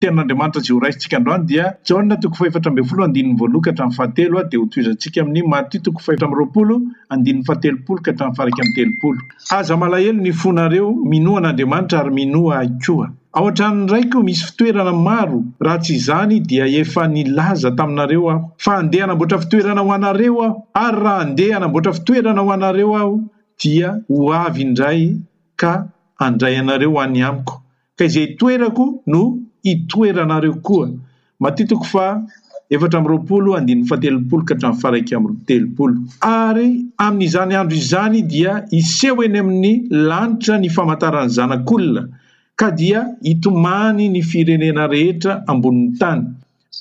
Tenin'Andriamanitra izay horaisintsika androany dia, Jaona toko fahefatra ambin'ny folo andininy voaloha ka hatramin'ny fahatelo, dia hotohizantsika amin'ny Matio toko fahefatra amby roapolo andininy fahatelopolo ka hatramin'ny faha-iraika amby telopolo. Aza malahelo ny fonareo, minoa an'Andriamanitra ary minoa ahy koa. Ao an-tranon'ny Raiko misy fitoerana maro, raha tsy izany dia efa nilaza taminareo aho fa handeha hanamboatra fitoerana ho anareo aho. Ary raha handeha hanamboatra fitoerana ho anareo aho dia ho avy indray ka handray anareo ho any amiko, ka izay itoerako no hitoeranareo koa. Matio toko faha efatra amby roapolo andininy fahatelopolo ka hatramin'ny faha iraika amby telopolo. Ary amin'izany andro izany dia hiseho eny amin'ny lanitra ny famantaran'ny Zanak'olona, ka dia hitomany ny firenena rehetra ambonin'ny tany.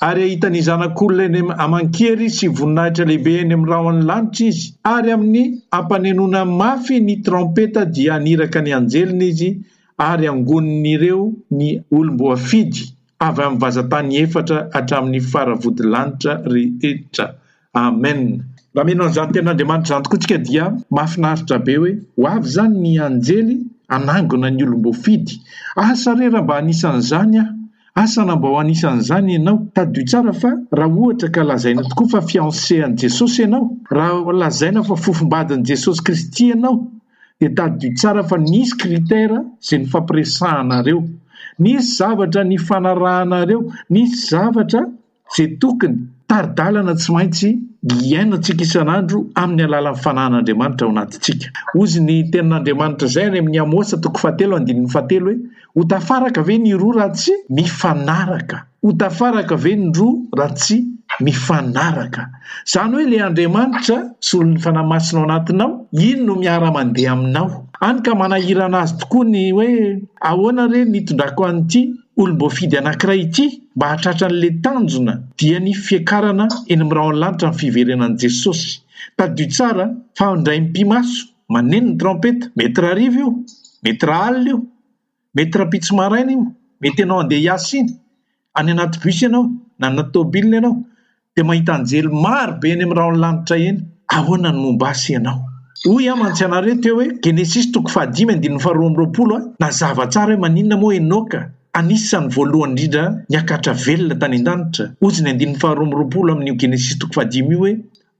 ary hahita ny Zanak'olona eny aman-kery sy voninahitra lehibe eny amin'ny rahon'ny lanitra izy, ary amin'ny hampanenoana mafy ny traompeta dia haniraka ny anjeliny izy ary hangonin'ireo ny olom-boafidy avy amin'ny vazan-tany efatra hatramin'ny faravodilanitra rehetra. Amen! Nameno an'izany tenin'Andriamanitra izany tokoa tsika dia mahafinaritra be hoe ho avy izany ny anjely hanangona ny olom-boafidy. Asa re raha mba anisan'izany aho! Asa raha mba ho anisan'izany ianao! Tadidio tsara fa raha ohatra ka lazaina tokoa fa fiancé an'i Jesosy ianao, raha lazaina fa fofombadin'i Jesosy Kristy ianao dia tadidio tsara fa nisy critère izay nifampiresahanareo, nisy zavatra nifanarahanareo, nisy zavatra izay tokony tari-dalana tsy maintsy iainantsika isan'andro amin'ny alalan'ny fanahin'Andriamanitra ao anatintsika. Hozy ny Tenin'Andriamanitra izay any amin'ny Amosa toko fahatelo andininy fahatelo hoe, Ho tafaraka ve ny roa raha tsy mifanaraka? Ho tafaraka ve ny roa raha tsy mifanaraka? Izany hoe ilay Andriamanitra, solon'ny Fanahy Masina ao anatinao, iny no miara-mandeha aminao. Hany ka manahirana azy tokoa ny hoe, Ahoana re ny hitondrako an'ity olom-boafidy anankiray ity mba hahatratra an'ilay tanjona dia ny fiakarana eny amin'ny rahonlanitra ny fiverenan'i Jesosy. Tadidio tsara fa indray mipi-maso maneno ny traompeta, mety rariva io, mety raalina io, mety rampitso maraina io, mety ianao handeha hiasa iny, any anaty bus ianao na anaty tôbily ianao dia mahita anjely maro be eny amin'ny rahonlanitra eny, ahoana ny momba ahy sy ianao? Hoy aho mantsy anareo teo hoe, Genesisy toko fahadimy andininy faharoa amby roapolo a, nazava tsara hoe maninona moa Enoka, anisan'ny voalohany indrindra niakatra velona tany an-danitra, hozy ny andininy faharoa amby roapolo amin'io Genesisy toko fahadimy io hoe,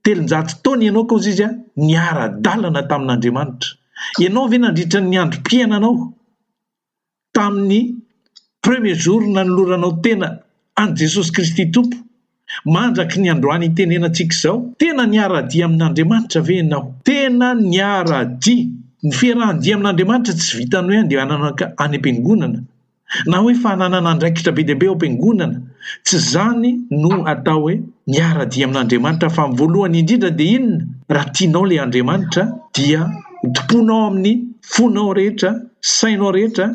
Telonjato taona i Enoka hozy izy a, niara-dalana tamin'Andriamanitra. Ianao ve nandritra ny androm-piainanao, tamin'ny premier jour nanoloranao tena an'i Jesosy Kristy Tompo mandraky ny androany itenenantsika izao? Tena niara-dia amin'Andriamanitra ve ianao? Tena niara-dia! Ny fiarahan-dia amin'Andriamanitra tsy vitan'ny hoe andehanana any am-piangonana na hoe fananana andraikitra be dia be ao am-piangonana, tsy izany no atao hoe miara-dia amin'Andriamanitra fa ny voalohany indrindra dia inona? Raha tianao ilay Andriamanitra dia. Hotompoina ao amin'ny fonao rehetra, sainao rehetra,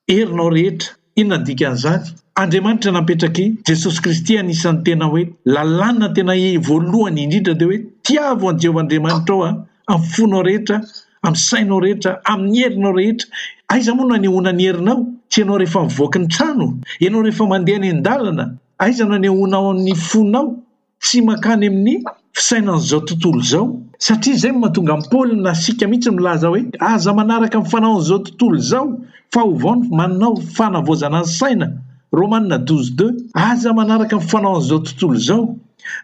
herinao rehetra. Inona ny dikan'izany? Andriamanitra nampetrak'i Jesosy Kristy anisan'ny tena hoe lalàna tena voalohany indrindra dia hoe tiavo an'i Jehovah Andriamanitrao amin'ny fonao rehetra, amin'ny sainao rehetra, amin'ny herinao rehetra. Aiza moa no anehoana ny herinao? Tsy ianao rehefa mivoaka ny trano? Ianao rehefa mandeha any an-dalana? Aiza no anehoanao ny fonao? tsy mankany amin'ny fisainan'izao tontolo izao, satria izay no mahatonga an'i Paoly na isika mihitsy milaza hoe, Aza manaraka ny fanaon'izao tontolo izao, fa ovao ny manao fanavaozana ny saina, Romana douze deux. Aza manaraka ny fanaon'izao tontolo izao.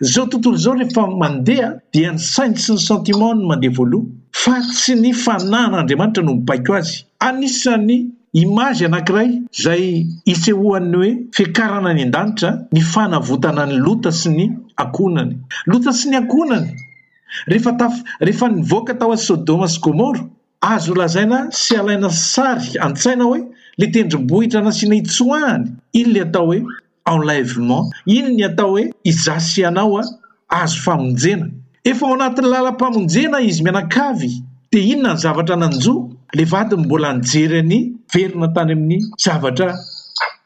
Izao tontolo izao rehefa mandeha dia ny sainy sy ny sentiment-ny no mandeha voaloha, fa tsy ny fanahin'Andriamanitra no mibaiko azy. Anisan'ny Image anankiray izay isehoan'ny hoe fiakarana any an-danitra ny fanavotana an'i Lota sy ny ankohonany. Lota sy ny ankohonany, rehefa taf- rehefa nivoaka tao an'i Sodoma sy Gomora, azo lazaina sy alaina sary an-tsaina hoe ilay tendrombohitra nasiana hitsoahany iny ilay atao hoe enlèvement, iny ny atao hoe izaho sy ianao azo famonjena, efa ao anatin'ny lalam-pamonjena izy mianakavy, dia inona ny zavatra nanjo ilay vadiny mbola nijery an'i Verina tany amin'ny zavatra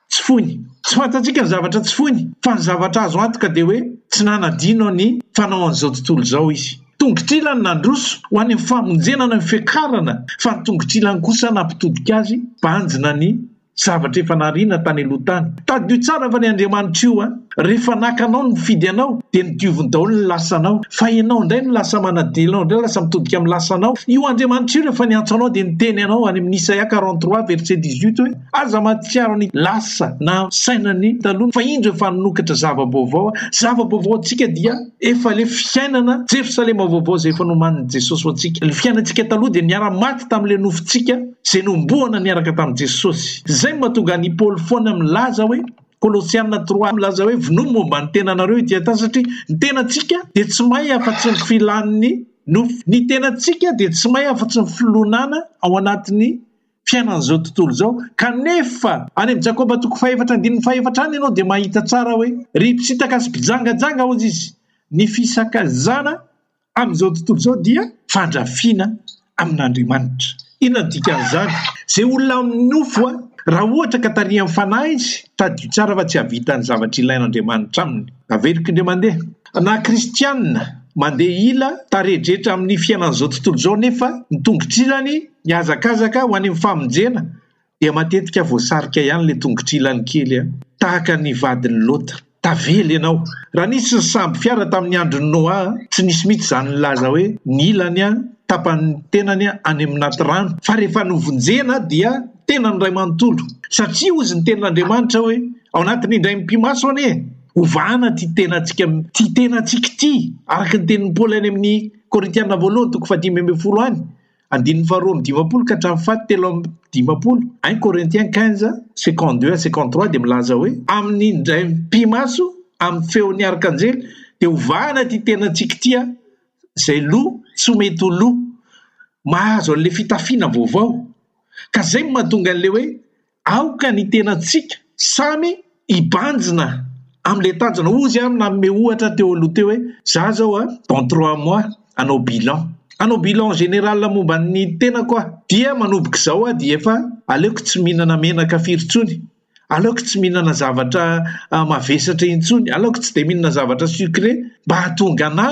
tsy foiny? Tsy fantatsika ny zavatra tsy foiny fa ny zavatra azo antoka dia hoe tsy nanadino ny fanaon'izao tontolo izao izy. Tongotr'ilany nandroso ho any amin'ny famonjena ny fiakarana fa ny tongotr'ilany kosa nampitodika azy banjina ny Zavatra efa nariana tany aloha tany. Tadidio tsara fa ny Andriamanitr'io an! Rehefa naka anao nifidy anao dia nodioviny daholo ny lasanao fa ianao indray no lasa manadino ianao indray lasa mitodika amin'ny lasanao. Io Andriamanitra io rehefa niantso anao dia niteny anao any amin'ny Isaia quarante trois verset dix huit hoe aza mahatsiaro ny lasa na sainan'ny taloha fa indro efa nanokatra zava-baovao aho. Zava-baovao ho antsika dia efa ilay fiainana Jerosalema vaovao izay efa nomanin'i Jesosy ho antsika. Ilay fiainantsika taloha dia niara-maty tamin'ilay nofontsika izay nohomboana niaraka tamin'i Jesosy. Izay no mahatonga an'i Paoly foana milaza hoe, Kolosiana trois milaza hoe, Vonoy momba ny tenanareo ity ata, satria ny tenantsika dia tsy may afa-tsy ny filan'ny nofo. Ny tenantsika dia tsy may afa-tsy ny filonana ao anatin'ny fiainan'izao tontolo izao. Kanefa, any amin'i Jakoba toko fahefatra andininy fahefatra any ianao dia mahita tsara hoe, Ry mpitsitaka sy mpijangajanga, hozy izy, ny fisakazana Amin'izao tontolo izao dia fandrafiana amin'Andriamanitra. Inona no dikan'izany? Izay olona amin'ny nofo, raha ohatra ka tarihan'ny Fanahy izy, tadidio tsara fa tsy hahavita ny zavatra ilain'Andriamanitra aminy. Averiko indray mandeha. Na kristiana mandeha ila tarehin-drehetra amin'ny fiainan'izao tontolo izao nefa ny tongotr'ilany mihazakazaka ho any amin'ny famonjena dia matetika voasarika ihany ilay tongotr'ilany kely an, tahaka ny vadin'i Lota. Tavela ianao! Raha nisy ny sambo fiara tamin'ny andron'i Noa, tsy nisy mihitsy izany nilaza hoe ny ilany an, tapan'ny tenany an, any amin'aty rano, fa rehefa novonjena dia ny tenany iray manontolo. Satria hozy ny tenin'Andriamanitra hoe, Ao anatin'ny indray mipi-maso anie e! Hovahana ity tenantsika, ity tenantsika ity, araka ny tenin'i Paoly any amin'ny Korintiana voalohany toko fahadimy ambin'ny folo any, Andininy faharoa amby dimampolo ka hatramin'ny faty telo amby dimampolo, un Corinthiens quinze, second deux à second trois dia milaza hoe, Amin'ny indray mipi-maso, amin'ny feon'ny arkanjely, dia ho vahana ity tenantsika ity an, izay loha tsy mety ho loha mahazo an'ilay fitafiana vaovao. Ka izay no mahatonga an'ilay hoe, Aoka ny tenantsika samy hibanjina amin'ilay tanjona. Hoy izy ary nanome ohatra teo aloha teo hoe, Izaho izao dans trois mois hanao bilan. Hanao bilan général momba ny tenako aho. Dia manomboka izao aho dia efa aleoko tsy mihinana menaka firy intsony, aleoko tsy mihinana zavatra mavesatra intsony, aleoko tsy dia mihinana zavatra sucré mba hahatonga anà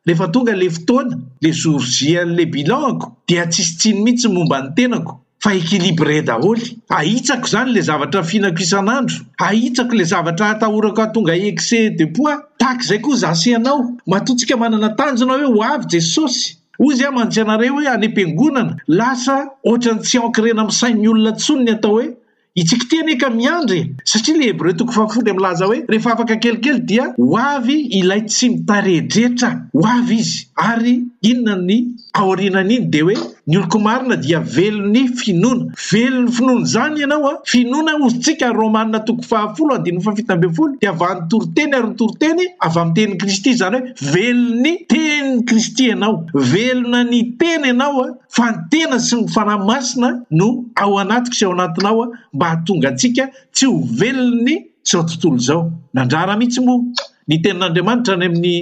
Rehefa tonga le fotoana, le jour J an'le bilan-ko dia tsisy tsiny mihitsy momba ny tenako fa equilibré daholo. Ahitsako zany le zavatra fihinako isan'andro, ahitsako le zavatra atahorako hahatonga excès de poids. Tahaka izay koa za sy ianao, matoa tsika manana tanjona hoe ho avy Jesosy. Hoy zay mantsy anareo hoe any am-piangonana, lasa ohatran'ny tsy ankirena amin'ny sain'ny olona tsony ny atao hoe Itsy k'ity anie ka miandry e! Satria ilay Hebreo toko fahafolo dia milaza hoe, Rehefa afaka kelikely dia ho avy Ilay tsy mitarihedretra, ho avy Izy. Ary inona ny ao aorianan'iny? Dia hoe, Ny oloko marina dia velon'ny finoana. Velon'ny finoana izany ianao an! Finoana, hozy tsika, Romana toko fahafolo andininy fahafito ambin'ny folo, dia vanon toriteny ary ny toriteny avy amin'ny tenin'i Kristy, izany hoe velon'ny tenin'i Kristy ianao. Velona ny teny ianao an! fa ny tena sy ny Fanahy Masina no ao anatiko sy ao anatinao mba hahatonga antsika tsy ho velon'ny izao tontolo izao. Nandrara mihitsy moa ny tenin'Andriamanitra any amin'ny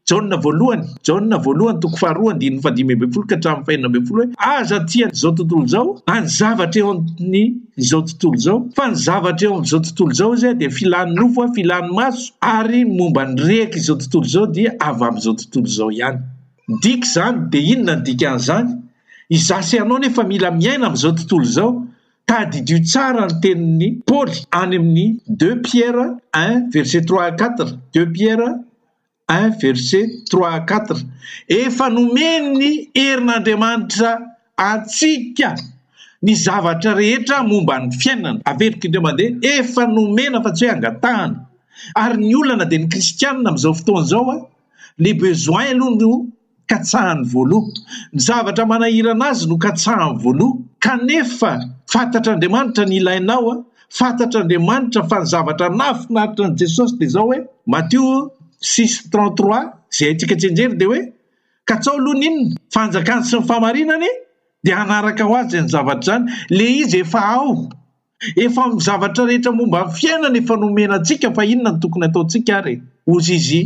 Jaona voalohany, Jaona voalohany toko faharoa andininy fahadimy ambin'ny folo ka hatramin'ny fahenina ambin'ny folo hoe aza aty an'izao tontolo izao na ny zavatra eo amin'izao tontolo izao fa ny zavatra eo amin'izao tontolo izao izay dia filan'ny nofo, filan'ny maso ary momba ny rehaka izao tontolo izao dia avy amin'izao tontolo izao ihany. Midika izany, dia inona ny dikan'izany? Izaho sy ianao anefa mila miaina amin'izao tontolo izao. Tadidio tsara ny tenin'i Paoly any amin'ny Deux Pierre un verset trois à quatre, Deux Pierre un verset trois à quatre, Efa nomen'ny herin'Andriamanitra antsika ny zavatra rehetra momba ny fiainana. Averiko indray mandeha, efa nomena fa tsy hoe angatahana. Ary ny olana dia ny kristianina amin'izao fotoana izao Le besoin aloha no katsahany voaloha. Ny zavatra manahirana azy no katsahany voaloha. Kanefa fantatr'Andriamanitra ny ilainao a! Fantatr'Andriamanitra fa ny zavatra nahafinaritra an'i Jesosy dia izao hoe, Matio six trente trois, izay haintsika tsianjery dia hoe, Katsao aloha ny inona? Fanjakany sy ny fahamarinany, dia hanaraka ho azy izany zavatra izany. Le izy efa ao. Efa amin'ny zavatra rehetra momba ny fiainana efa nomena antsika fa inona no tokony hataontsika ary e? Hozy izy,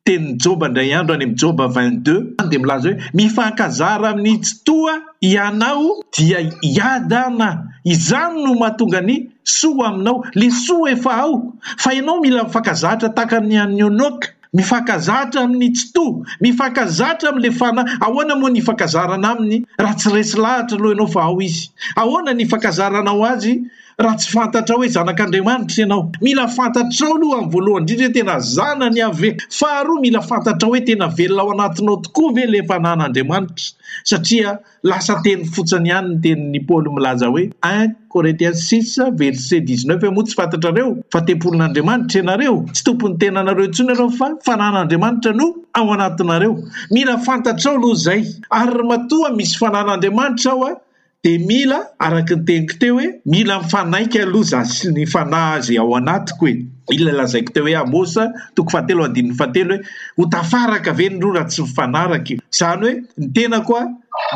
Tenin'i Joba indray andro any amin'ny Joba vingt deux dia milaza hoe, Mifankazara amin'ny Tsitoha hianao, dia hiadana, izany no mahatonga ny soa aminao, le soa efa ao, fa ianao mila mifankazatra tahaka ny an'i Enoka. Mifankazatra amin'ny tsitoha, mifankazatra amin'ilay fanahy. Ahoana moa ny ifankazarana aminy raha tsy resy lahatra aloha ianao fa ao izy? Ahoana ny ifankazaranao azy raha tsy fantatrao hoe zanak'Andriamanitra ianao? Mila fantatrao aloha amin'ny voalohany indrindra hoe tena zanany Yaveh. Faharoa, mila fantatrao hoe tena velona ao anatinao tokoa ve ilay fanan'Andriamanitra satria Lasa teny fotsiny ihany ny tenin'i Paoly milaza hoe, un Corinthiens six verset dix neuf moa tsy fantatrareo fa tempolin'Andriamanitra ianareo? Tsy tompon'ny tenanareo intsony ianareo fa fanan'Andriamanitra no ao anatinareo. Mila fantatrao aloha izay. Ary ry matoa misy fanan'Andriamanitra ao a! dia mila, araka ny teniko teo hoe, mila mifanaiky aloha za sy ny Fanahy izay ao anatiko e! Iny ilay lazaiko teo hoe Amos toko fahatelo andininy fahatelo hoe ho tafaraka ve ny roa raha tsy mifanaraka io? Izany hoe ny tenako a,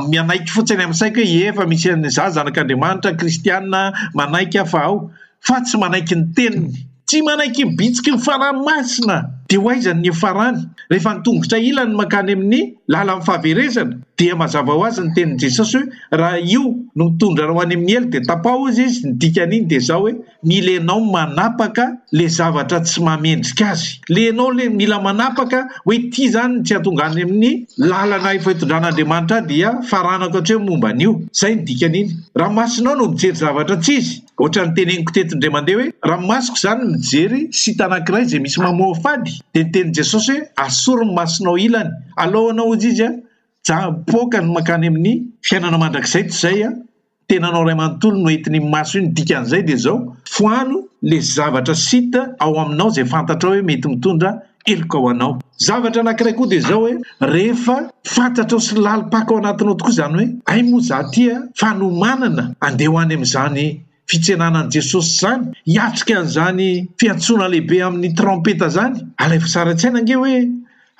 mianaiky fotsiny amin'ny saiko hoe ie efa misy an'i izaho zanak'Andriamanitra, kristiana, manaiky aho fa ao, fa tsy manaiky ny teniny. Tsy manaiky ny bitsiky ny fanahy masina. Dia ho aiza ny niafarany? Rehefa ny tongotra ilany mankany amin'ny lalan'ny fahaverezana, dia mazava ho azy ny tenin'i Jesosy hoe raha io no mitondra anao any amin'ny helo dia tapaho hozy izy, ny dikan'iny dia izao hoe, ny le enao manapaka le zavatra tsy mahamendrika azy, le enao le mila manapaka hoe ity zany ny tsy hahatonga any amin'ny lalana efa itondran'Andriamanitra ahy dia faranako hatreo momba an'io, zay ny dikan'iny, raha masonao no mijery zavatra tsy izy, ohatran'ny teneniko teto indray mandeha hoe raha masoko zany mijery site anankiray zay misy mamoafady dia niteny Jesosy hoe asory ny masonao ilany alohanao hozy izy a, ja mipoaka ny makany amin'ny fiainana mandrakizay toy zay a, tenanao ray manontolo no entiny ny maso iny dikan'izay dia zao foano le zavatra site ao aminao izay fantatrao hoe mety mitondra heloka ho anao zavatra anakiray koa dia zao hoe rehefa fantatrao sy lalim-paka ao anatinao tokoa izany hoe hay moa za tia fanomanana andeha ho any amin'izany fitsenanan'i jesosy zany hiatrika an'izany fiantsoana lehibe amin'ny trampeta zany alaivo sara-tsaina ange hoe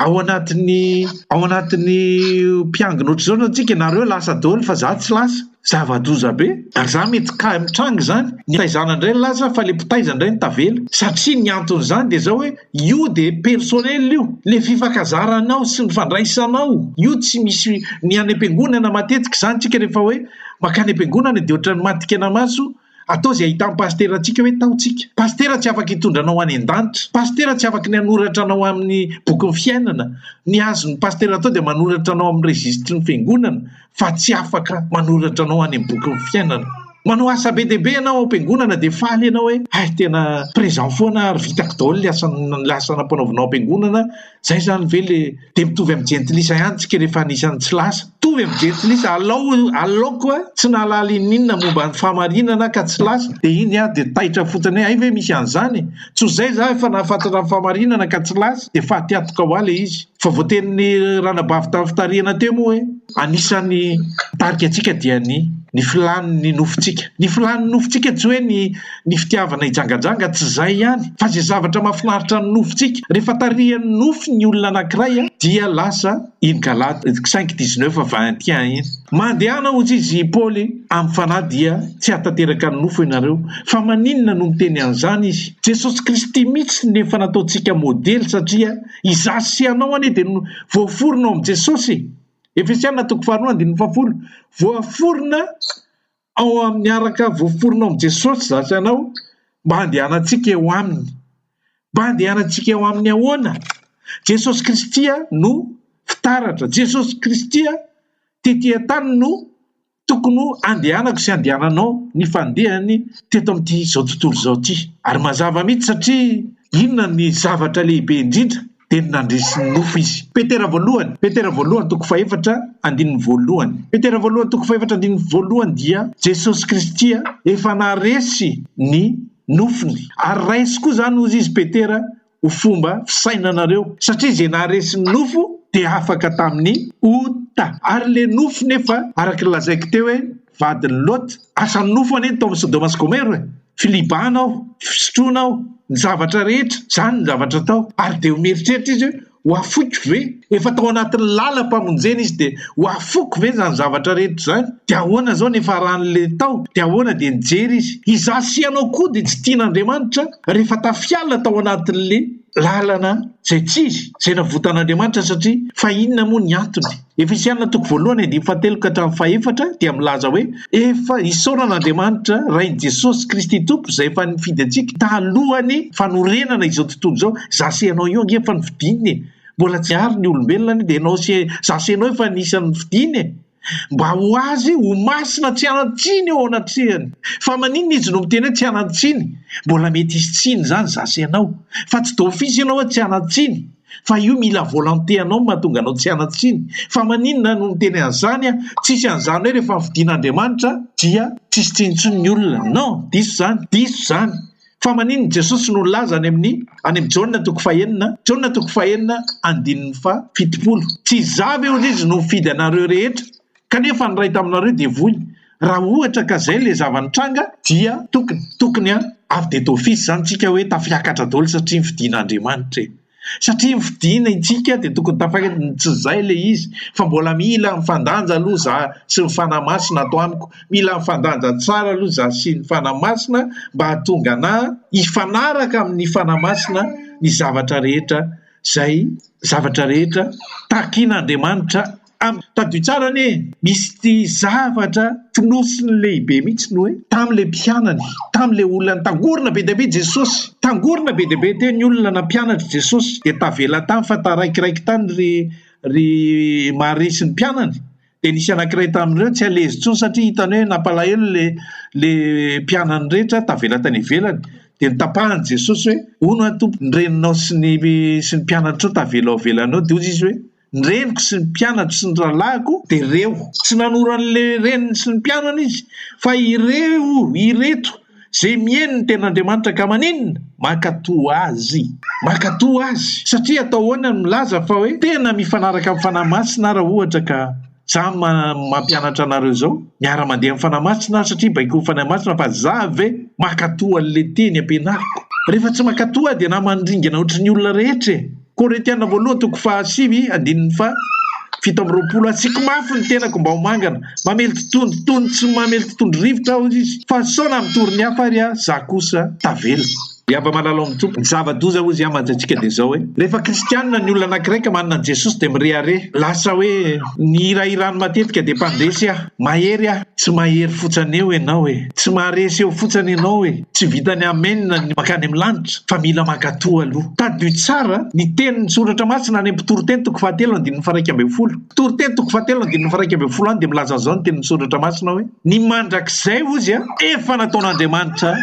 Ao anatin'ny ao anatin'ny mpiangona ohatr'izao zao tsika nareo lasa daholo fa za tsy lasa, zava-doza be ary za mety kay mitranga izany, ny fitaizana indray no lasa fa le mpitaiza indray no tavela satria ny anton'izany dia zao hoe io dia personnel io, le fifankazaranao sy ny fandraisanao io tsy misy ny any am-piangonana matetika izany tsika rehefa hoe mankany am-piangonana dia ohatran'ny maty kena maso Atao izay ahitan'ny pasitera antsika hoe tao tsika. Pasitera tsy afaka hitondra anao any an-danitra. Pasitera tsy afaka ny hanoratra anao amin'ny bokin'ny fiainana. Ny azon'ny pasitera atao dia manoratra anao amin'ny registry ny fiangonana fa tsy afaka manoratra anao any amin'ny bokin'ny fiainana. Manao asa be dia be ianao ao am-piangonana dia faly ianao hoe hay tena présent foana ary vitako daholo ny asa ny asa nampanaovinao am-piangonana Zay zany ve le de mitovy amin'ny jentilisa ihany tsika rehefa anisan'ny tsy lasa. Mitovy amin'ny jentilisa alao alaoko a tsy nahalala ininona momba ny fahamarinana ka tsy lasa de iny aho de taitra fotsiny hoe hay ve misy an'izany e. Tsy ho zay za efa nahafantatra ny fahamarinana ka tsy lasa de faty antoka hoa le izy. Fa voatenin'ny ranabavy tamin'ny fitarihana teo moa hoe. Anisan'ny mitarika antsika dia ny ny filan'ny nofontsika. Ny filan'ny nofontsika tsy hoe ny ny fitiavana hijangajanga, tsy izay ihany, fa izay zavatra mahafinaritra ny nofontsika. Rehefa tarihan'ny nofo ny olona anankiray dia lasa iny Galata cinq dix neuf vingt et un iny. Mandehana hozy izy i Paoly amin'ny fanahy dia tsy hahatanteraka ny nofo ianareo. Fa maninona no miteny an'izany izy? Jesosy Kristy mihitsy no efa nataontsika modely satria Izaho sy ianao anie dia no voaforona ao amin'i Jesosy e! Efesiana toko faharoa andininy fahafolo. Voaforona ao amin'ny araka voaforona ao amin'i Jesosy izaho sy ianao mba handehanantsika eo aminy. Mba handehanantsika eo aminy ahoana? Jesosy Kristy no fitaratra. Jesosy Kristy tetỳ an-tany no Tokony ho andehanako sy andehananao ny fandehany teto amin'ity izao tontolo izao ity. Ary mazava mihitsy satria inona ny zavatra lehibe indrindra dia ny nandresy ny nofo izy. Petera voalohany, Petera voalohany toko fahefatra andininy voalohany, Petera voalohany toko fahefatra andininy voalohany dia Jesosy Kristy efa naresy ny nofony ary raisiko koa izany hozy izy Petera ho fomba fisainanareo satria ze naharesy ny nofo dia afaka tamin'ny ota ary le nofo nefa araka ny lazaiko teo hoe vadin'i lot asan'ny nofo anie ny tao amin'ny sodoma sy gomero e filibana ao fisotroana ao ny zavatra rehetra zany ny zavatra tao ary dia ho mieritreritra izy hoe ho afoiko ve efa tao anatin'ny lalam-pamonjena izy dia ho afoko ve zany zavatra rehetra zany dia ahoana zao ny efa ran'le tao dia ahoana dia nijery izy izaho sy ianao koa dia tsy tian'Andriamanitra rehefa tafiala tao anatin'le lalana izay tsy izy izay navotan'Andriamanitra satria fa inona moa ny antony? Efesiana toko voalohany andininy fahatelo ka hatramin'ny fahefatra dia milaza hoe efa isaorana Andriamanitra Rain'i Jesosy Kristy Tompo izay efa nifidy antsika talohan'ny fanorenana izao tontolo izao. Za sy ianao io ange efa nofidiny e! Mbola tsy ary ny olombelona anie dia ianao sy za sy ianao efa anisan'ny nofidiny e! mba ho azy ho masina tsy hanan-tsiny eo anatrehany. Fa maninona izy no miteny hoe tsy hanan-tsiny? Mbola mety hisy tsiny izany za sy ianao. Fa tsy d'office ianao hoe tsy hanan-tsiny. Fa io mila volonté anao no mahatonga anao tsy hanan-tsiny. Fa maninona no miteny an'izany an? Tsisy an'izany hoe rehefa fidin'Andriamanitra dia tsisy tsiny intsony ny olona. Non, diso izany, diso izany. Fa manin ny Jesosy no nilaza any amin any amin Jaona toko fahenina Jaona toko fahenina andininy faha fitopolo, Tsy Izaho ve hozy izy no nifidy anareo rehetra? Kanefa ny ray taminareo dia voiny. Raha ohatra ka zay le zava nitranga dia tokony tokony a avy de d'office zany tsika hoe tafiakatra daholo satria ny fidin Andriamanitra e. satria ny fidina isika dia tokony tafakatra ny tsy zay le izy fa mbola mila mifandanja aloha za sy ny fanahy masina ato amiko mila mifandanja tsara aloha za sy ny fanahy masina mba hahatonga ana hifanaraka amin'ny fanahy masina ny zavatra rehetra zay zavatra rehetra takin'Andriamanitra Ary tadidio tsara anie e! Misy zavatra fonosiny lehibe mihitsy ny hoe tamin'ilay mpianany, tamin'ilay olona nitangorona be dia be Jesosy. Tangorona be dia be teo ny olona nampianatr'i Jesosy, dia tavela tany fa taraikiraiky tany ry ry Maria sy ny mpianany. Dia nisy anankiray tamin'ireo tsy alezy intsony satria hitany hoe nampalahelo ilay ilay mpianany rehetra tavela tany ivelany. Dia notapahan'i Jesosy hoe, Hono aho Tompo, ny reninao sy ny sy ny mpianatrao tavela ao ivelany ao, dia hoy izy hoe, ny reniko sy ny mpianatro sy ny rahalahiko dia reo. Tsy nanoro an'le reniny sy ny mpianany izy fa ireo, ireto, ze mieno ny tenin'Andriamanitra ka maninona? Mankatò Azy. Mankatò Azy. Satria atao ahoana ny milaza fa hoe tena mifanaraka amin'ny Fanahy Masina ara ohatra ka. Za mampianatra anareo zao miara mandeha am fanahy masina aho satria baiko fanahy masina fa za ve makato anle teny ampianariko? Refa tsy makato aho de na mandringana otry ny olona rehetra e! Korintiana voalohany toko faha sivy andininy faha fito amby roapolo Asiako mafy ny tenako mba ho mangana, mamely totondry toy ny tsy mamely totondry rivotra aho izy, fa sao nampitory ny hafa ary aho, za kosa tavela. I Aba Malalaon'i Tompoko, zava-doza hoy izy amin'ny antsaintsika dia izao hoe, rehefa kristianina ny olona anankiray ka manana an'i Jesosy dia mirehareha, lasa hoe ny hirahirany matetika dia mpandresy aho, mahery aho, tsy mahery fotsany eo ianao e, tsy maharesy eo fotsany ianao e, tsy vitan'ny amen ny mankany amin'ny lanitra fa mila mankatoa aloha. Tadidio tsara ny tenin'ny Soratra Masina any amin'ny Mpitoriteny toko fahatelo andininy faharaika ambin'ny folo. Mpitoriteny toko fahatelo andininy faharaika ambin'ny folo any dia milaza an'izao ny tenin'ny Soratra Masina hoe, Ny mandrakizay hozy efa nataon'Andriamanitra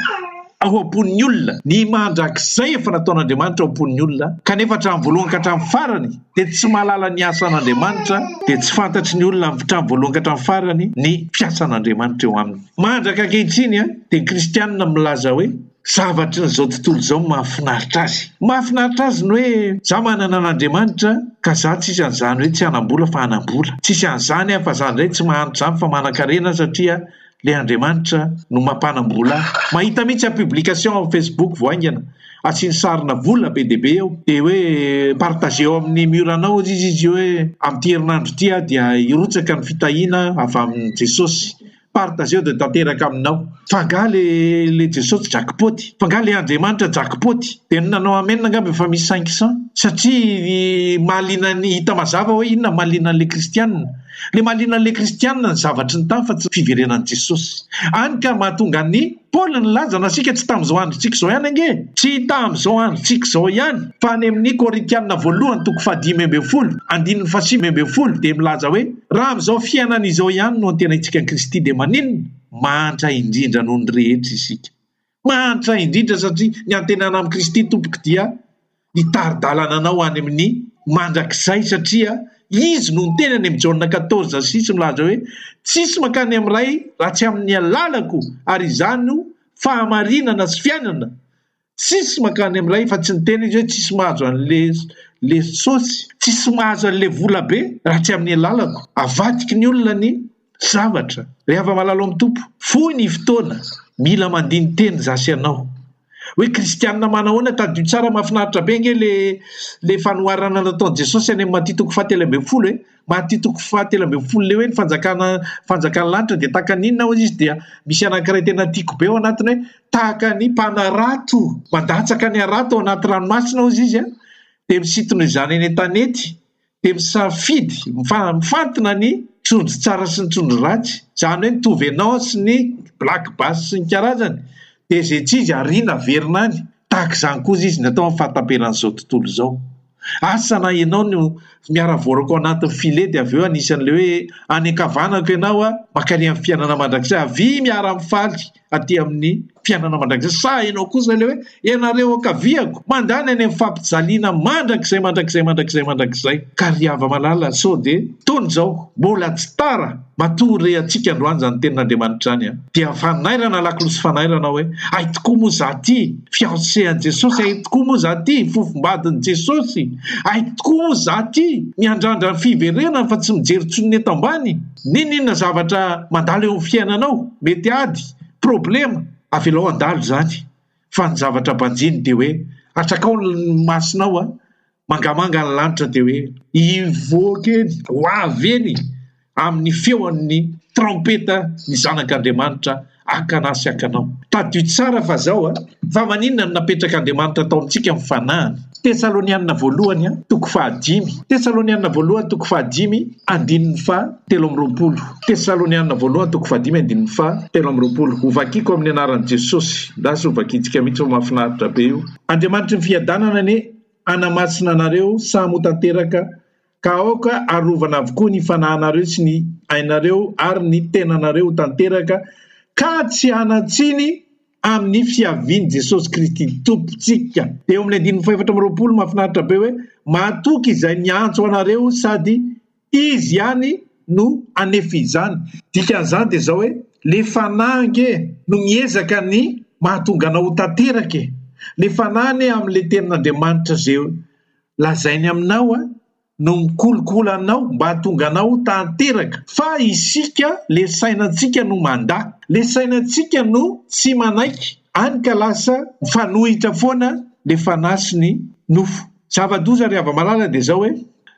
ao am-pon'ny olona, ny mandrakizay efa nataon'Andriamanitra ao am-pon'ny olona, kanefa hatramin'ny voalohany ka hatramin'ny farany dia tsy mahalala ny asan'Andriamanitra, dia tsy fantatry ny olona hatramin'ny voalohany ka hatramin'ny farany ny fiasan'Andriamanitra eo aminy. Mandraka ankehitriny dia ny kristianina milaza hoe zavatrin'izao tontolo izao no mahafinaritra azy. Ny mahafinaritra azy ny hoe za manana an'Andriamanitra ka za tsisy an'izany hoe tsy hanam-bola fa hanam-bola, tsisy an'izany aho fa za indray tsy mahantra izany fa manankarena aho satria le Andriamanitra no mampanambola ahy mahita mihitsy aho publication am Facebook vao haingana asiany sarina vola be dia be eo de hoe partager eo amin'ny mur anao ozy izy izy hoe amin'ity herinandro ity aho dia hirotsaka ny fitahiana avy amin'i Jesosy partager eo de tanteraka aminao fa nga le le Jesosy jackpot fa nga le Andriamanitra jackpot de ny nanao amen angamba efa misy cinq cent satria ny mahaliana ny hita mazava hoe inona mahaliana an'le Kristianina Le mahaliana le kristianina ny zavatry ny tany fa tsy fiverenan'i Jesosy. Any ka mahatonga an'i Paoly nilaza na isika tsy tamin'izao androntsika izao ihany ange. Tsy tamin'izao androntsika izao ihany fa any amin'ny Korintianina voalohany toko fahadimy ambin'ny folo andininy fahasivy ambin'ny folo dia milaza hoe raha amin'izao fiainana izao ihany no antenaintsika an'i Kristy dia maninona? Mahantra indrindra noho ny rehetra isika. Mahantra indrindra satria ny antenana amin'i Kristy Tompoko dia ny tari-dalana anao any amin'ny mandrakizay satria Izy no niteny any amin'ny Jaona quatorze sy six milaza hoe, Tsisy mankany amin'ny Ray raha tsy amin'ny alalako ary izany no fahamarinana sy fiainana. Tsisy mankany amin'ny Ray fa tsy niteny Izy hoe tsisy mahazo an'ilay sosy, tsisy mahazo an'ilay volabe raha tsy amin'ny alalako. Avadiky ny olona ny Zavatra, ry hava-malala ao amin'ny Tompo, fohy ny fotoana, mila mandini-teny izaho sy ianao. Hoe kristianina manahoana? Tadidio tsara, mahafinaritra be ange ilay ilay fanoharana nataon'i Jesosy any amin'ny Matia toko fahatelo ambin'ny folo e! Matia toko fahatelo ambin'ny folo, ilay hoe ny fanjakana ny fanjakan'ny lanitra dia tahaka ny inona hozy izy dia misy anankiray tena tiako be ao anatiny hoe tahaka ny mpanarato mandatsaka ny harato ao anaty ranomasina hozy izy a! dia misintona izany eny an-tanety dia misafidy mifantina ny trondro tsara sy ny trondro ratsy, izany hoe mitovy anao sy ny black bass sy ny karazany, dia izay tsy izy ariana averina any, tahaka izany koa izy no atao amin'ny fahataperan'izao tontolo izao, asa na ianao no miara voaraka ao anatin'ny filet dia avy eo anisan'ilay hoe any ankavanako ianao aho mankany amin'ny fiainana mandrakizay, avia miara mifaly. aty amin'ny fiainana mandrakizay. Sa ianao kosa ilay hoe, ianareo ankaviako, mandany any amin'ny fampijaliana mandrakizay, mandrakizay, mandrakizay, mandrakizay. Ka ry hava-malala, sao dia toy izao, mbola tsy tara, matoa rehatsika androany izany tenin'Andriamanitra izany an! Dia fanairana lakolosy fanairana hoe, hay tokoa moa izaho ity, fiancée an'i Jesosy, hay tokoa moa izaho ity, fofombadin'i Jesosy, hay tokoa moa izaho ity, miandrandra ny fiverenany fa tsy mijery intsony ny eto ambany. N'inon'inona zavatra mandalo eo amin'ny fiainanao, mety ady, problema, avelao handalo izany. Fa ny zavatra banjino dia hoe, atrakao ny masonao an, mangamanga ny lanitra dia hoe, hivoaka eny, ho avy eny amin'ny feon'ny traompeta ny Zanak'Andriamanitra. Akana sy akanao. Tadidio tsara fa zao a! Fa maninona no napetraka Andriamanitra atao amintsika ny fanahiny? Tesalonianina voalohany toko fahadimy Tesalonianina voalohany toko fahadimy andininy faha telo amby roapolo Tesalonianina voalohany toko fahadimy andininy faha telo amby roapolo Ho vakiko amin'ny anaran'i Jesosy Ndasy ho vakintsika mihitsy fa mahafinaritra be io Andriamanitry ny fiadanana anie hanamasina anareo samy ho tanteraka Ka aoka arovana avokoa ny fanahinareo sy ny ainareo ary ny tenanareo ho tanteraka ka tsy hanan-tsiny amin'ny fiavian'i Jesosy Kristy Tompontsika. Dia eo amin'ny andininy fahefatra amby roapolo, mahafinaritra be hoe, Mahatoky izay miantso anareo sady Izy ihany no hanefa izany. Dikan'izany dia izao hoe, Ilay Fanahy ange no miezaka ny mahatonga anao ho tanteraka e! Ilay Fanahy anie amin'ilay Tenin'Andriamanitra izay Lazainy aminao a no mikolokolo anao mba hahatonga anao ho tanteraka fa isika le sainantsika no mandà, le sainantsika no tsy manaiky any ka lasa mifanohitra foana le fanahy sy ny nofo. Zava-doza ry hava-malala dia zao hoe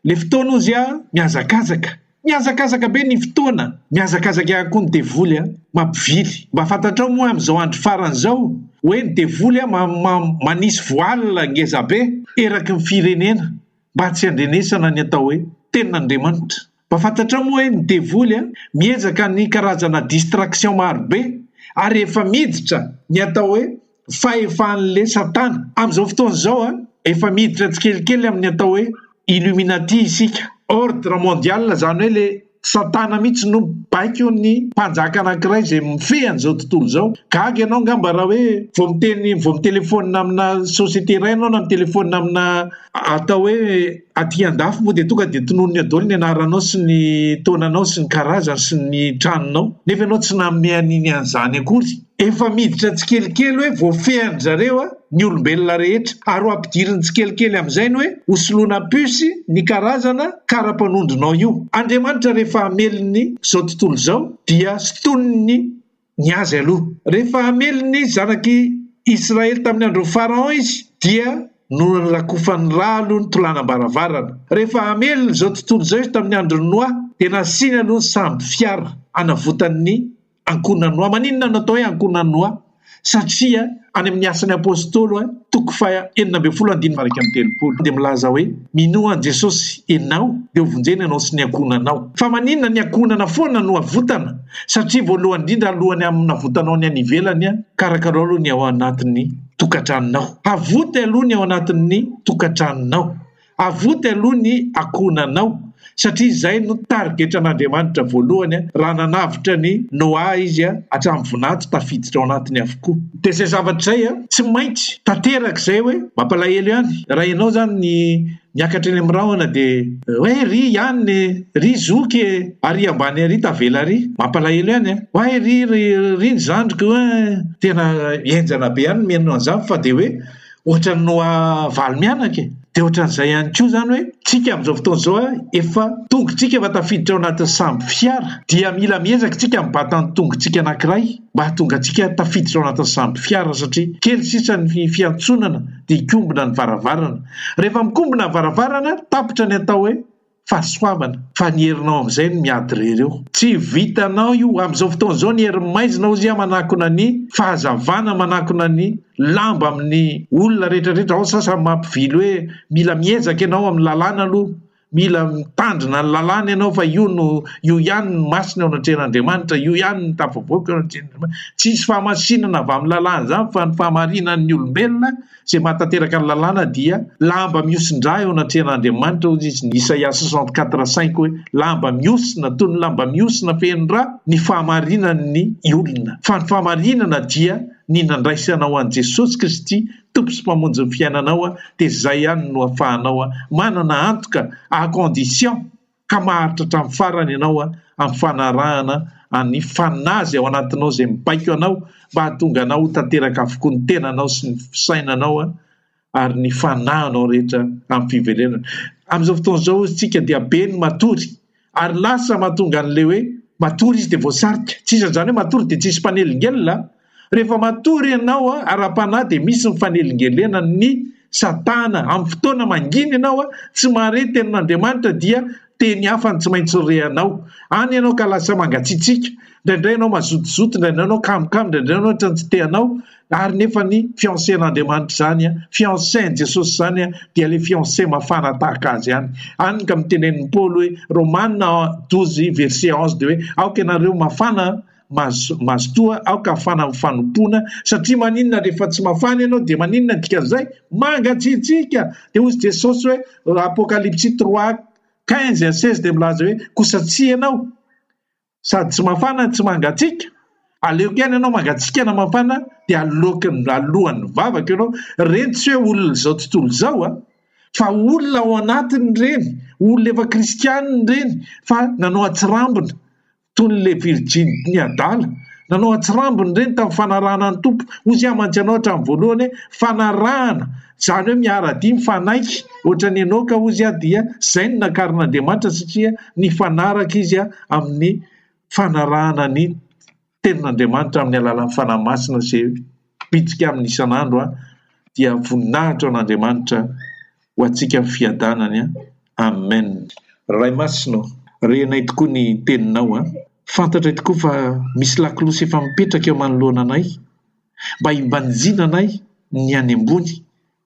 le fotoana ozy a mihazakazaka. Mihazakazaka be ny fotoana, mihazakazaka ihany koa ny devoly a! Mampivily. Mba fantatrao moa amin'izao andro farany izao hoe ny devoly a ma ma manisy voile ngeza be eraky ny firenena mba tsy handrenesana ny atao hoe tenin'Andriamanitra. Mba fantatrao moa hoe ny devoly a miezaka ny karazana distraction maro be ary efa miditra ny atao hoe fahefan'le satana amin'izao fotoana izao a efa miditra tsikelikely amin'ny atao hoe illuminati isika ordre mondial izany hoe le satana mihitsy no baikony mpanjaka anankiray izay mifehy an'izao tontolo izao gaga ianao angamba raha hoe vao miteny vao mitelefona amina société iray ianao na mitelefona amina atao hoe aty an-dafy moa dia tonga dia tononony adaoly ny anaranao sy ny taonanao sy ny karazany sy ny tranonao nefa ianao tsy nanome an'iny an'izany akory Efa miditra tsikelikely hoe voafehan-dry zareo ny olombelona rehetra, ary ho ampidiriny tsikelikely amin'izay ny hoe ho soloina puce ny karazana kara-panondronao io. Andriamanitra rehefa hamelony izao tontolo izao dia sintoniny ny azy aloha. Rehefa hamely ny zanak'i Israely tamin'ny andron'i Pharaon izy dia norakofan'ny ra aloha ny tolanam-baravarana. Rehefa hamelony izao tontolo izao izy tamin'ny andron'i Noa dia nasiany aloha ny sambo fiara hanavotan'ny Ankohonan'i Noa. Maninona no atao hoe ankohonan'i Noa? Satria any amin'ny Asan'ny Apôstôly toko faha enina ambin'ny folo andininy faha iraika amby telopolo dia milaza hoe, Minoa an'i Jesosy ianao dia hovonjena ianao sy ny ankohonanao. Fa maninona ny ankohonana foana no avotana? Satria voalohany indrindra alohan'ny hanavotanao ny any ivelany, karakarao aloha ny ao anatin'ny tokantranonao. Havota aloha ny ao anatin'ny tokantranonao. Avoty aloha ny akohonanao satria izay no tarigetran'Andriamanitra voalohany raha nanavotra ny Noa izy hatramin'ny vonanto tafiditra ao anatiny avokoa. Dia izay zavatra izay tsy maintsy tanteraka izay hoe mampalahelo ihany raha ianao izany ny miakatra eny amin'ny rahona dia hoe ry ihany e! ry zoky e! ary ambany ary tavela ary! mampalahelo ihany e! oay ry ry ny zandriko e! tena henjana be ihany ny mihaino an'izany fa dia hoe ohatran'ny noa valo mianaka e! dia ohatran'izay ihany koa izany hoe tsika amin'izao fotoana izao a efa tongotsika efa tafiditra ao anatin'ny sambo fiara dia mila miezaka isika mibata ny tongotsika anankiray mba hahatonga antsika tafiditra ao anatin'ny sambo fiara satria kely sisa ny fiantsonana dia hikombona ny varavarana rehefa mikombona ny varavarana tapitra ny atao hoe fahasoavana fa ny herinao amin'izay no miady irery eo. Tsy vitanao io, amin'izao fotoana izao ny herin'ny maizina hozy a manakona ny fahazavana, manakona ny lamba amin'ny olona rehetrarehetra, ao ny sasany mampivily hoe mila miezaka ianao amin'ny lalàna aloha, mila mitandrina ny lalàna ianao fa io no io ihany no masina eo anatrehan'Andriamanitra, io ihany no tafavoaka eo anatrehan'Andriamanitra, tsy hisy fahamasinana avy amin'ny lalàna izany fa ny fahamarinan'ny olombelona, izay mahatanteraka ny lalàna dia lamba mihosin-drà eo anatrehan' Andriamanitra, hoy izy, ny Isaia soixante quatre cinq hoe, Lamba mihosina, toy ny lamba mihosina feno rà, ny fahamarinan' ny olona. Fa ny fahamarinana dia ny nandraisanao an'i Jesosy Kristy Tompo sy Mpamonjy ny fiainanao, dia izay ihany no afahanao manana antoka à condition ka maharitra hatramin'ny farany ianao amin'ny fanarahana an'ny fanazy ao anatinao izay mibaiko anao mba hahatonga anao ho tanteraka avokoa ny tenanao sy ny fisainanao ary ny fanahinao rehetra amin'ny fiverenana. Amin'izao fotoana izao isika dia be ny matory ary lasa mahatonga an'ilay hoe matory izy dia voasarika. Tsy isan'izany hoe matory dia tsisy mpanelingelina, Rehefa matory ianao ara-panahy dia misy ny fanelingelenany ny satana. Amin'ny fotoana mangina ianao tsy mahare ny tenin'Andriamanitra dia teny hafa no tsy maintsy rehanao. Any ianao ka lasa mangatsiatsiaka, indraindray ianao mazotozoto, indraindray ianao kamokamo, indraindray ianao ohatran'ny tsy te-hanao, ary nefa ny fiancén'Andriamanitra izany, fiancén'i Jesosy izany dia ilay fiancé mafana tahaka Azy ihany. Any ka mitenen'i Paoly hoe, Romana douze verset onze dia hoe, aoka ianareo mafana, Mazo, mazotoa aoka hafana amin'ny fanompoana, satria maninona rehefa tsy mafana ianao dia maninona ny dikan'izay? Mangatsiatsiaka! Dia hozy Jesosy hoe, Apokalypsy trois, quinze à seize dia milaza hoe, kosa tsy ianao, sady tsy mafana no tsy mangatsiaka, aleoko ihany ianao mangatsiaka na mafana, dia aloky, aloan'ny vavako ianao, ireny tsy hoe olona izao tontolo izao an, fa olona ao anatiny ireny, olona efa kristianina ireny, fa nanao an-tsirambina, Toy ny le virjiny ny adala. Nanao an-tsirambiny ireny tamin'ny fanarahana ny Tompo. Hoy Izy hamantsy anao hatramin'ny voalohany hoe, fanarahana, izany hoe miara-dia, mifanaiky. Ohatran'i Enoka hoy Izy dia izay no nakarin'Andriamanitra satria nifanaraka izy amin'ny fanarahana ny Tenin'Andriamanitra amin'ny alalan'ny Fanahy Masina izay bitsika aminy isan'andro dia voninahitra ho an'Andriamanitra. ho antsika ny fiadanany an! Amen! Ray masina ô! Rehanay tokoa ny teninao an! Fantatray tokoa fa misy lakolosy efa mipetraka eo manoloana anay mba himbanjina anay ny any ambony,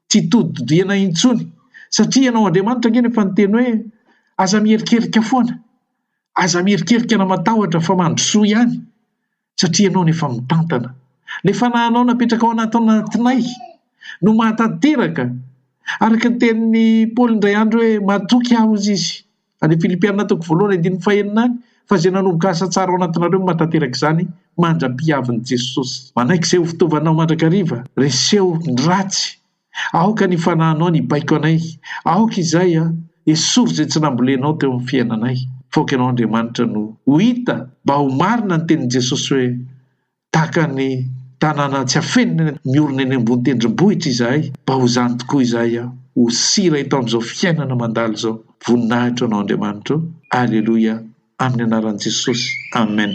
tsy todidodianay intsony satria ianao Andriamanitra ange no efa niteny hoe aza miherikerika foana, aza miherikerika na matahotra fa mandrosoa ihany! Satria ianao no efa mitantana. Ilay fanahinao napetraka ao anatinay no mahatanteraka. Araka ny tenin'i Paoly indray andro hoe, Matoky aho, hozy izy. Any Filipiana toko voalohany andininy fahenina any, Fa izay nanomboka asa tsara ao anatinareo no mahatanteraka izany, mandra-pihavin'i Jesosy. Manaiky izay ho fitaovanao mandrakariva. Reseho ny ratsy. Aoka ny fanahinao ny hibaiko anay. Aoka izay an! Esory izay tsy nambolenao teo amin'ny fiainanay. F'aoka ianao Andriamanitra no ho hita mba ho marina ny tenin'i Jesosy hoe, Tahaka ny tanàna tsy afenina miorina eny ambony tendrombohitra izahay, mba ho izany tokoa izahay an! Ho sira eto amin'izao fiainana mandalo izao. Voninahitra ho anao Andriamanitra o! Aleloia! Amin'ny anaran'i Jesosy. Amen.